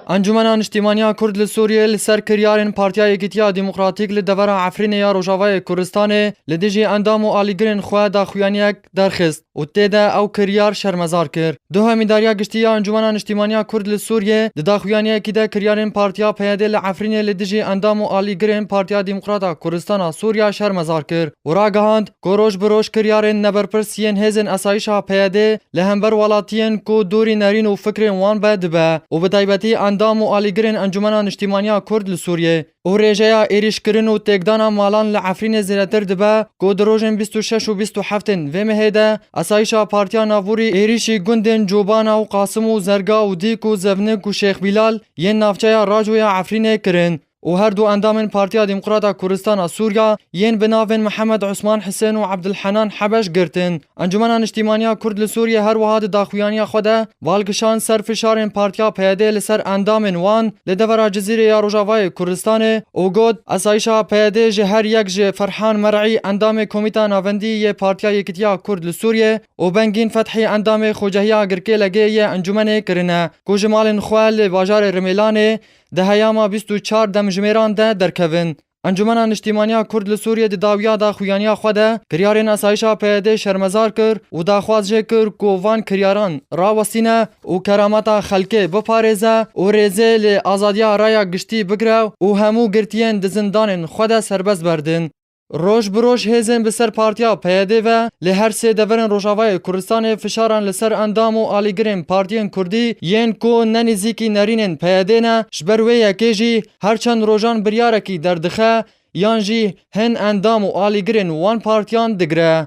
Encûmena Niştîmaniya Kurd li Sûriyê li ser kiryarên Partiya Yekîtiya Demokratîk li devera Efrînê ya Rojavayê Kurdistanê li dijî endam û alîgirên xwe daxuyaniyek derxist û tê de ew kiryar şermezar kir. Duh Îdarîya Giştî ya Encûmena Niştîmaniya Kurd li Sûriyê di daxuyaniyekî de kiryarên Partiya PYD li Efrînê li dijî endam û alîgirên Partiya Demokrata Kurdistana Sûriya şermezar kir û ragihand, ku roj bi roj kiryarên neberpirs yên hêzên esayîşa PYDê li hember welatiyên ku dûrî nerîn û fikrên wan be dibe û bi taybetî endam û alîgirên Encûmena Niştîmaniya Kurd li Sûriyê û rêjeya êrîşkirin û têkdana malan li Efrînê zêdetir dibe ku di rojên bîst û şeş û bîst û heftên vê mehê de esayîşa Partiya Navûrî êrîşî gundên Cobana û Qasim û Zerga û Dîk û Zevnik û Şêx Bîlal yên navçeya Racoya Efrînê kirin. û her du endamên Partiya Demokrat a Kurdistan a Sûriya yên bi navên Mihemed Osman Hisên û Ebdulhenan Hebeş girtin. Encûmena Niştîmaniya Kurd li Sûriyê her wiha di daxuyaniya xwe de bal kişand ser fişarên Partiya PYD'ê li ser endamên wan li devera Cizîrê ya Rojavayê Kurdistanê û got, Asayişa PYD'ê ji her yek ji Ferhan Mer'î endamê Komîta Navendî yê Partiya Yekîtiya Kurd li Sûriyê û Bengîn Fethî endamê Xocehiya Girkê-LG'ê yê encûmenê kirine ku ji malên xwe li bajarê Rimêlanê Di heyama bîst û çar demjimêran de derkevin. Encûmena Niştîmaniya Kurd li Sûriyê di dawiya daxuyaniya xwe de kiryarên asayişa PYD'ê şermezar kir û daxwaz jê kir ku van kiryaran rawestîne û kerameta xelkê biparêze û rêzê li azadiya raya giştî bigire û hemû girtiyên di zindanên xwe de serbest berdin. Roj bi roj hêzên bi ser partiya PYD ve li her sê deverên Rojavayê Kurdistanê fişaran li ser endam û alîgirên partiyên Kurdî yên ku ne nêzîkî nerînên PYD'ê ne, ji ber wê yekê jî her çend rojan biryarekî derdixe yan jî hin endam û alîgirên wan partiyan digire.